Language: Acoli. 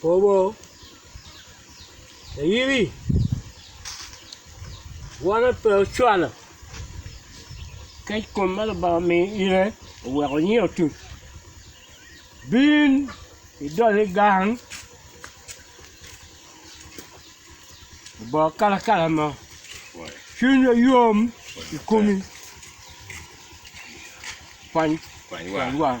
Kobo, Ayimi, wone pe ocwalo, kec kom ma Lubanga omiyo ine oweko onyinge otuc. Bin idole gang, obongo kalakala mo, cwinywa yom i komi, kwany wang.